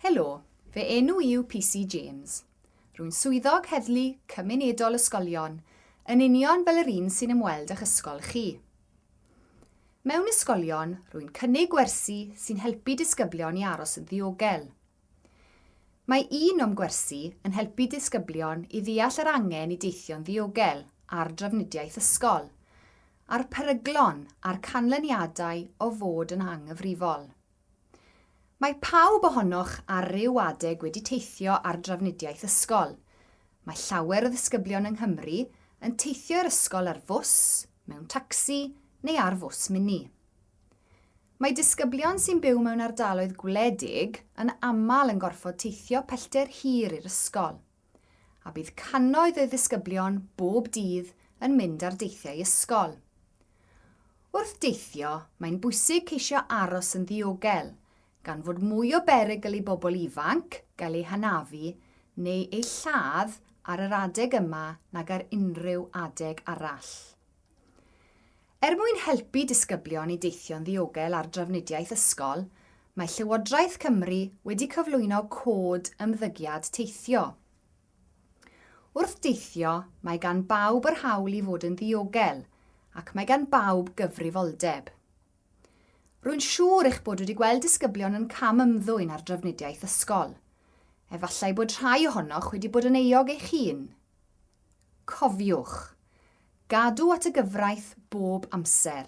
Helo, fy enw i yw PC James. Rwy'n swyddog heddlu cymunedol ysgolion, yn union fel yr un sy'n ymweld â'ch ysgol chi. Mewn ysgolion, rwy'n cynnig gwersi sy'n helpu disgyblion i aros yn ddiogel. Mae un o'm gwersi yn helpu disgyblion i ddeall yr angen i deithio'n ddiogel a'r drafnidiaeth ysgol, a'r peryglon a'r canlyniadau o fod yn anghyfrifol. Mae pawb ohonoch ar ryw adeg wedi teithio ar drafnidiaeth ysgol. Mae llawer o ddisgyblion yng Nghymru yn teithio i'r ysgol ar fws, mewn tacsi neu ar fws mini. Mae disgyblion sy'n byw mewn ardaloedd gwledig yn aml yn gorfod teithio pellter hir i'r ysgol. a bydd cannoedd o ddisgyblion bob dydd yn mynd ar deithiau ysgol. Wrth deithio, mae'n bwysig ceisio aros yn ddiogel, gan fod mwy o berygl i bobl ifanc gael eu hanafu neu eu lladd ar yr adeg yma nag ar unrhyw adeg arall. Er mwyn helpu disgyblion i deithio'n ddiogel ar drafnidiaeth ysgol, mae Llywodraeth Cymru wedi cyflwyno Cod Ymddygiad Teithio. Wrth deithio, mae gan bawb yr hawl i fod yn ddiogel ac mae gan bawb gyfrifoldeb. Rwy'n siŵr eich bod wedi gweld disgyblion yn cam ymddwyn ar drafnidiaeth ysgol. Efallai bod rhai ohonoch wedi bod yn euog eich hun. Cofiwch, Gadw at y gyfraith bob amser.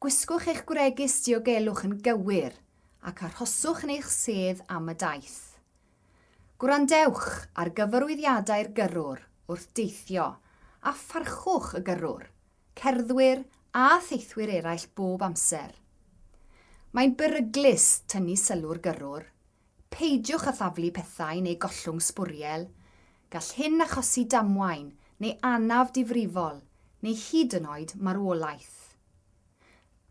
Gwisgwch eich gwregys diogelwch yn gywir ac arhoswch yn eich sedd am y daith. Gwrandewch ar gyfarwyddiadau'r gyrrwr wrth deithio a pharchwch y gyrrwr, cerddwyr a theithwyr eraill bob amser. Mae'n beryglus tynnu sylw'r gyrrwr Peidiwch â thaflu pethau neu gollwng sbwriel, gall hyn achosi damwain neu anaf difrifol, neu hyd yn oed marwolaeth.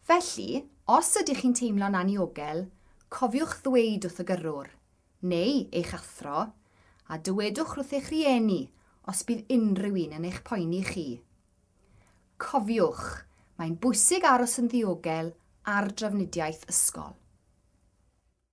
Felly, os ydych chi'n teimlo'n anniogel, cofiwch ddweud wrth y gyrrwr, neu eich athro, a dywedwch wrth eich rhieni os bydd unrhyw un yn eich poeni chi. Cofiwch, mae'n bwysig aros yn ddiogel ar drafnidiaeth ysgol.